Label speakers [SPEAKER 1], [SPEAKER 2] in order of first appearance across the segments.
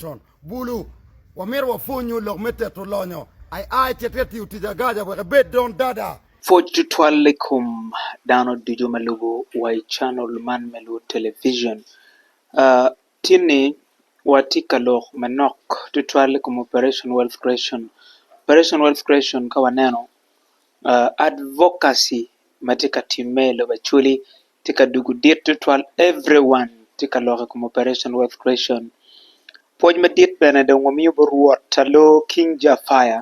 [SPEAKER 1] Con bulu, wamito wapwonyu lok me teto lonyo AI ce te tiyo tic agaja wek ebed don dada. Pwoc tutwal i
[SPEAKER 2] kom dano ducu ma lubo wa i channel man me Luo Television. Tin ni wa tye ka lok manok tutwal i kom Operation Wealth Creation. Operation Wealth Creation ka waneno advocacy ma tye ka timme i lobo Acholi tye ka dugo dit tutwal every one tye ka lok i kom operation wealth creation pwoc madit bene dong wamiyo bot rwot pa loo king ja fire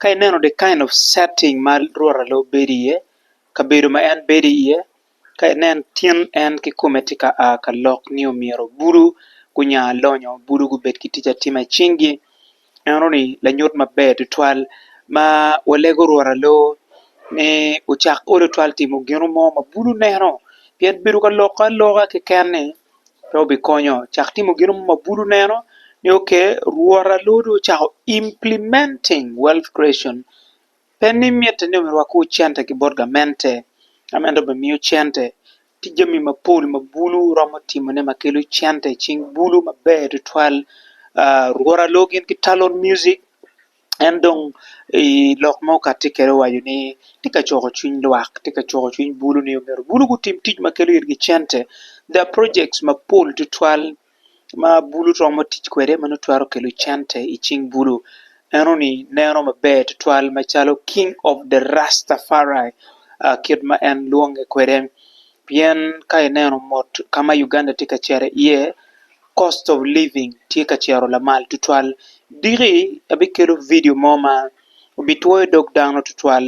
[SPEAKER 2] ka ineno the kind of setting ma rwot pa loo bedo iye kabedo ma en bedo iye ka inen tin en kikome tye ka aa ka lok nio myero bulu gunya lonyo bulu gubed ki tic atima i cingi. Eno ni lanyut maber tutwal ma walego orwot alor ni ocak olo twal timo gino mo ma bulu neno pien bedo ka lokke aloka keken ni pe obikonyo cak timo gino mo ma bulu neno ni ok rwot alor dong ocako implementing wealth creation. Pe ni mitte ni omyerwakiwu cente ki bot gamente, ka meno dong obimiyo cente. Tye jami mapol ma bulu romo timone ma kelo cente i cing bulu maber tutwal. Rwora loo gin ki talon music en dong i lok ma okati kede owaco ni tye ka coko cwiny lwak tye ka coko cwiny bulu ni omyero bulu gutim tic ma kelo itgi cente the projects mapol tutwal. ma bulu romo tic kwede ma nongo twero kelo cente i cing bulu eno ni neno maber tutwal macalo king of the Rastafari kit ma en lwonge kwede pien ka ineno mot ka ma Uganda tye ka cito iye cost of living tye ka cito lamal tutwal diki abikelo vidio mo ma obitwoyo dog dano tutwal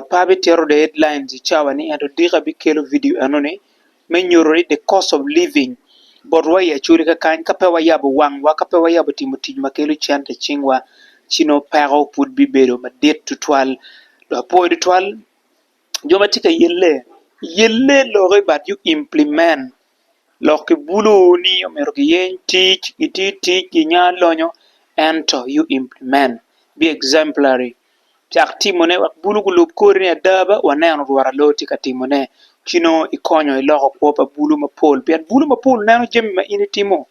[SPEAKER 2] pe abitito dong headlines i cawa ni ento odiko abikelo vidio enoni me nyuto ni the cost of living botwa i acoli kakany ka pe wayabo wangwa ka pe wayabo timo tic ma kelo cente i cingwa ci nongo peko pud bibedo madit tutwal dok apuwo tutwal jo ma tye ka yelle yelle lokke but you implement lok ki bulu ni omyero giyeny tic giti tic ginya lonyo ento you implement, be exemplary. cak timone wek bulu gulub kori ada ba waneno rwot alo tye ka timone ci nongo ikonyo iloko kwo pa bulu mapol pien bulu mapol neno jami ma in itimo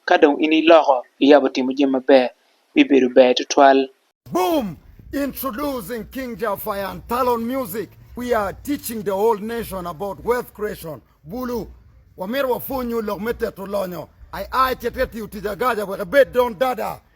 [SPEAKER 2] ka dong in iloko iyabo timo jami maber bibedo ber tutwal. Boom!
[SPEAKER 1] Introducing King Jah Fire and Talon Music, We are teaching the whole nation about wealth creation, Bulu, Wamito wapwonyu lok me teto lonyo. Ai ai, cit ka tiyo tic agaja wek ibed don dada.